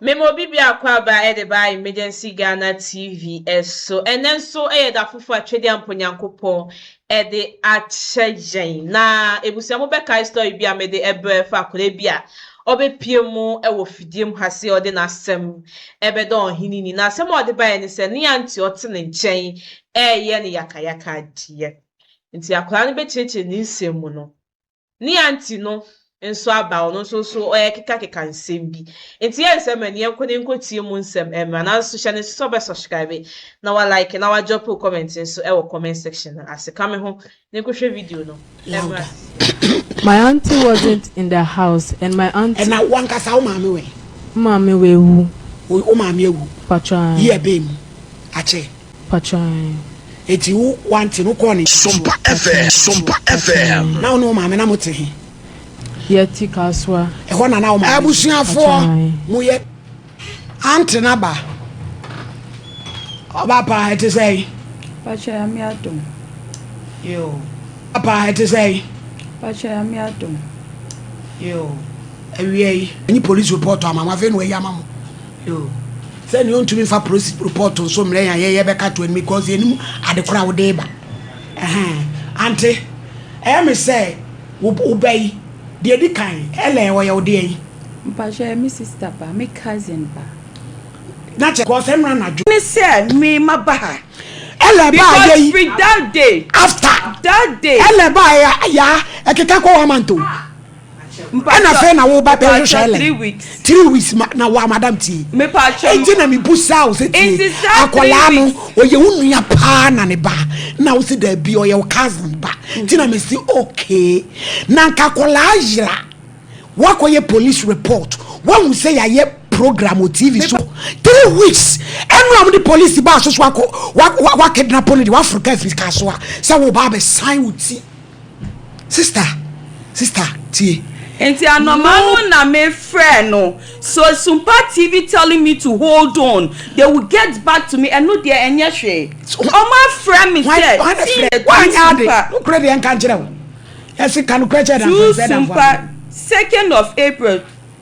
Mema obi biako aba de ba Emergency Ghana TV so. Ɛnnɛ nso yɛ da foforo a Twedeampɔ Nyankopɔn de akyɛ yɛn. Na abusua mo bɛkae story bi a mede brɛ fa akwadaa bi a ɔbɛpue mu wɔ fidie mu ha se ɔde n'asɛm bɛdɔ ɔhene ni. Na asɛm a ɔde baeɛ ne sɛ ne auntie ɔte ne nkyɛn reyɛ no yakayaka adeɛ. Nti akwadaa no bɛkyerɛkyerɛ ne nsɛm mu no Nea nti no nso aba ɔno nso so ɔrekekakeka nsɛm bi. Enti yɛn nsɛm ɛne yɛnkɔ na yɛnkɔtie mu nsɛm mmra. Nanso hyɛ no nso sɛ wobɛ subscribe na wa like na wa drope wo comment nso wɔ comment section no ase. Ka me ho na yɛnkɔhwɛ video no mmra sisi. My auntie wasn't in the house and my auntie. Ɛna wankasa wo maame wɛn. Maame wawu. Wo maame awu. Patwaa. Year bɛn mu? Akyɛ. Patwɛn. Eti wo wante no kɔɔ ne nkyɛn so. Sompa FM, Sompa FM. Na wo ne wo maame na mo te he? Yɛte Kasoa. Ɛhɔ na na wo maame te. Abusuafoɔ, mo yɛ. Ante no aba. Ɔba paa, ɛte sɛn? Patwɛn, Nyame adom. Yoo. Ɔba paa, ɛte sɛn? Patwɛn, Nyame adom. Yoo. Awiei, enyi police report ama mo, afei na wɔayi ama mo. Yoo. Sɛ nea ɔntumi nfa prosi report nso mmerɛ yɛn a yɛyɛ bɛka to anim because yɛnim ade koro a wode reba. Ɛhɛn. Ante, ɛyɛ me sɛ wo wo ba yi, deɛ edi kan, ɛlɛ ɔyɛ wo deɛn? Mpakyɛ ɔyɛ me sister ba, me cousin ba. Na kyɛ because ɛnora anadwo. Ne sɛ me ma ba ha. Ɛlɛ ba a yɛ yi. Because firi that day. After. That day. Ɛlɛ ba a yɛ a ɛkeka kɔ one month o. ɛna afei na woba bɛ hwehwɛ ɛlɛ three weeks three weeks ma na wa madam tie ɛnti na mi bu saa o sɛ tie akɔlaa no ɔyɛ wo nua paa na ne ba na o sɛ daabi ɔyɛ wo cousin ba ti na mi si okay na nka akɔlaa yira wakɔyɛ police report wahu sɛ yɛayɛ program o tv so three weeks ɛnu a mo de police ba asoso akɔ wa wa wa kidnap no de waforo kaa fi kaa so a sɛ wo ba abɛ san wo ti. Sista, sista, tie. Nti anɔma no na me frɛ no. So Sumpa TV telling me to hold on, they will get back to me, ɛno deɛ ɛnyɛ hwee. Ɔmo afrɛ me sɛ, tii yɛ tu Sumpa. Nokorɛ deɛ nka nkyerɛ wo. Yɛsi ka nokorɛ kyerɛ damfo, ɛsɛ damfo. Tu Sumpa, second of April.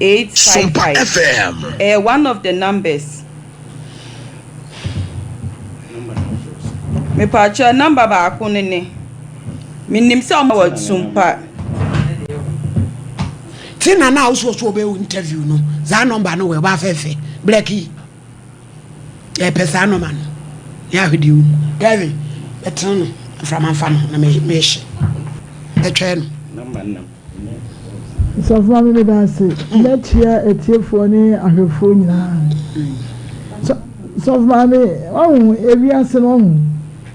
eight five five ɛyɛ one of the numbers mepaakyɛ number baako ne ne menim sɛ ɔma wɔ tumpa ti na na awosuo so ɔbɛyɛ interview no saa number no wɔ ɛba afɛɛfɛ blɛki yɛpɛ saa number no yɛ ahwedeɛ wo kevin bɛtena no mframa mfa no na mɛhyɛ bɛtwɛɛ no Sɔfo Maame meda ase. Mɛkyia atiefoɔ ne ahwɛfoɔ nyinaa. Sɔfo Maame, ɔho ewiase no ɔho.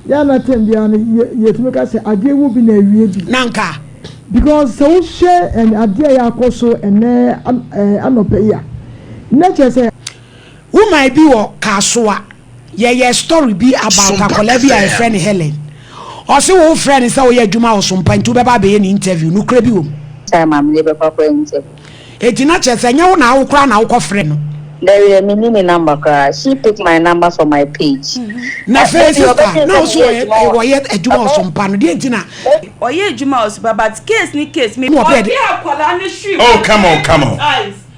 Yɛ ana tɛm biara no yɛtumi ka sɛ adeɛ wɔ bi na awie bi. Na nka. Because sɛ wohwɛ adeɛ a yɛakɔ so ɛnɛ anɔpɛ yi a, na kyerɛ sɛ. Woman bi wɔ Kasoa. Yɛyɛɛ story bi about akwadaa bi a yɛfrɛ no Helen. Ɔse wo frɛ no sɛ woyɛ adwuma wɔ Sompa nti wobɛba abɛyɛ no interview. Nokorɛ bi wɔm? Sɛ maame de bɛkɔ akɔyɛ interview. Enti na kyerɛ sɛ ɛnyɛ wo na wo koraa na wokɔ frɛ no? Daabi menni ne number koraa. She pick my number from my page. Na afei sister na wo so wɔyɛ adwuma wɔ Sompa no deɛ nti na. Ɔyɛ adwuma wɔ Sompa but case ne case me. Ɔde akwadaa no hwim. Oh come on come on.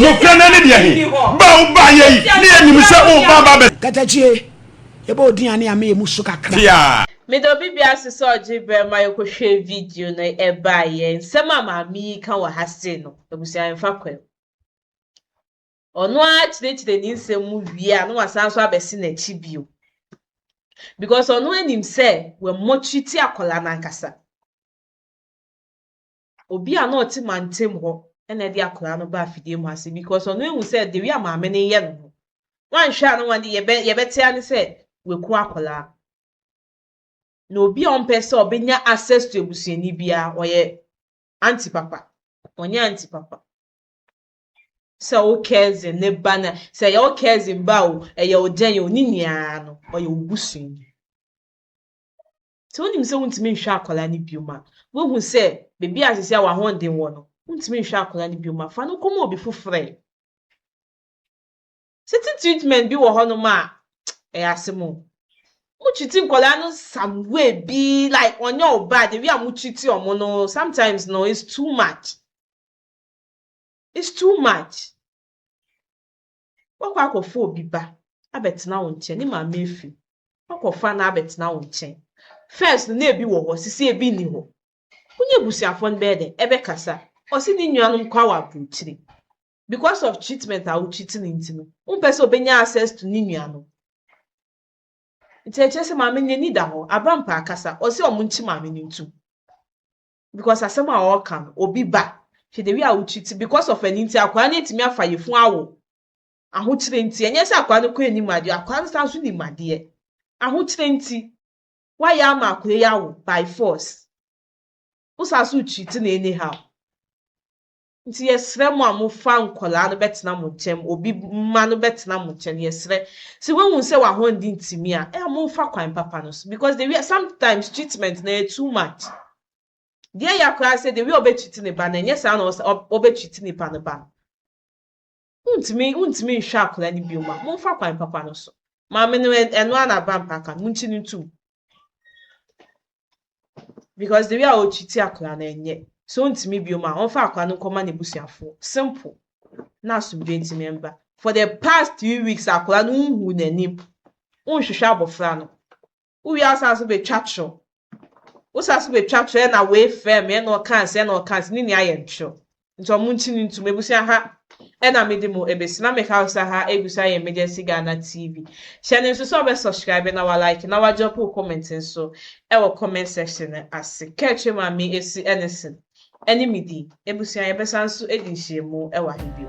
Nokorɛ no ɛne deɛ he? Ba a wobaeɛ yi, ne yɛnim sɛ woreba aba abɛ. Katakyie, yɛbɔ wo din a ne yɛama yɛn mu so kakra. Pia. Meda obi biase sɛ ɔgye berɛ ma yɛkɔhwɛ video no ɛbaeɛ. Nsɛm a maame yi reka wɔ ha sei no, abusua yɛmfa kwan mu. Ɔno ara kyerɛkyerɛ ne nsɛm mu wie a na wasan nso abɛse n'akyi bio. Because ɔno ara nim sɛ wammɔ treat akwadaa no ankasa. obi a na ɔte mantam hɔ na ɛde akwadaa no baa fidie mu ase because ɔno ehu sɛ the way a maame no yɛ no no wanhwɛ a na wɔde yɛbɛ yɛbɛte ane sɛ waku akwadaa na obi a ɔmpɛ sɛ ɔbɛnya access to abusuani biara ɔyɛ anti papa ɔnyɛ anti papa sɛ wo cousin ne ba na sɛ ɛyɛ wo cousin ba o ɛyɛ wo dɛn o ne nyinaa no ɔyɛ wo busuani Sɛ wonim sɛ wontumi nhwɛ akwadaa no bio ma, woahu sɛ baabi a seesei a w'ahoɔden wɔ no, wontumi nhwɛ akwadaa no bio ma, fa no kɔma obi foforɔ ɛ. Certain treatment bi wɔ hɔnom a, ɛyɛ asɛm o. Motreat nkwadaa no some way bi like ɔnyɛ wo ba, the way a motreat wɔn no, sometimes no, it's too much. It's too much. Woakɔ akɔfa obi ba abɛtena wo nkyɛn, ne maame afi mu. Woakɔfa no abɛtena wo nkyɛn. First no, na ebi wɔ hɔ, seesei ebi nni hɔ. Wo ne abusuafoɔ no bɛyɛ dɛn? Ɛbɛkasa. Ɔse ne nuanom kwa wɔ aburokyire. Because of treatment a wo treat no nti no, wompɛ sɛ ɔbɛnya access to ne nuanom. Nti ɛkyerɛ sɛ maame no n'ani da hɔ. Abrampa akasa. Ɔse wɔn nkye maame no ntu. because asɛm a ɔreka no obi ba hwɛ the way a wo treat because of ɛno nti akwaa no antumi afa yɛfunu awo ahokyerɛ nti ɛnyɛ sɛ akwaa no kɔ anim adeɛ akwaa no san so nim adeɛ ahokyerɛ nti woayɛ ama akwaa yi awo by force wo san so treat no anyhow Nti yɛsrɛ mo a mofa nkwadaa no bɛtena mo nkyɛn, obi mma no bɛtena mo nkyɛn, yɛsrɛ. Sɛ woahu sɛ w'ahoɔden ntumi a, ɛyɛ a momfa kwan papa no so because the way sometimes treatment no ɛyɛ too much. Deɛ ɛya koraa sɛ the way ɔbɛtreat ne ba no, ɛnyɛ saa na ɔbɛtreat nipa no ba no. Wontumi, wontumi nhwɛ akwadaa no bio ma. Momfa kwan papa no so. Maame no, ɛ- ɛno ara na aba mpa ka no. Monkyi no ntom. Because the way a ɔtwiti akwadaa no ɛnyɛ. So wontumi bio ma, ɔmfa akwadaa no nkɔma n'abusuafoɔ. Simple. Na asomdwoe ntumi mba. For the past three weeks, akwadaa no wonhuu n'anim. Wonhwehwɛ abɔfra no. Wo wie a wo san so betwa toro. Wo san so betwa toro ɛna wei frɛ me ɛna ɔka nse ɛna ɔka nse ne nua yɛ ntoro. Nti ɔmo nkyi ne ntum ebusua ha ɛna me de mo ebesi na me ka wo sɛ ha egu so ayɛ Emergency Ghana TV. Hyɛ no nso sɛ wo bɛ subscribe na wa like na wa drop wo comment nso ɛwɔ comment section no ase. Ka atwa mu a me esi ɛne sen. ɛne me di. Abusua, yɛbɛsan nso adi nhyiamu wɔ ha bio.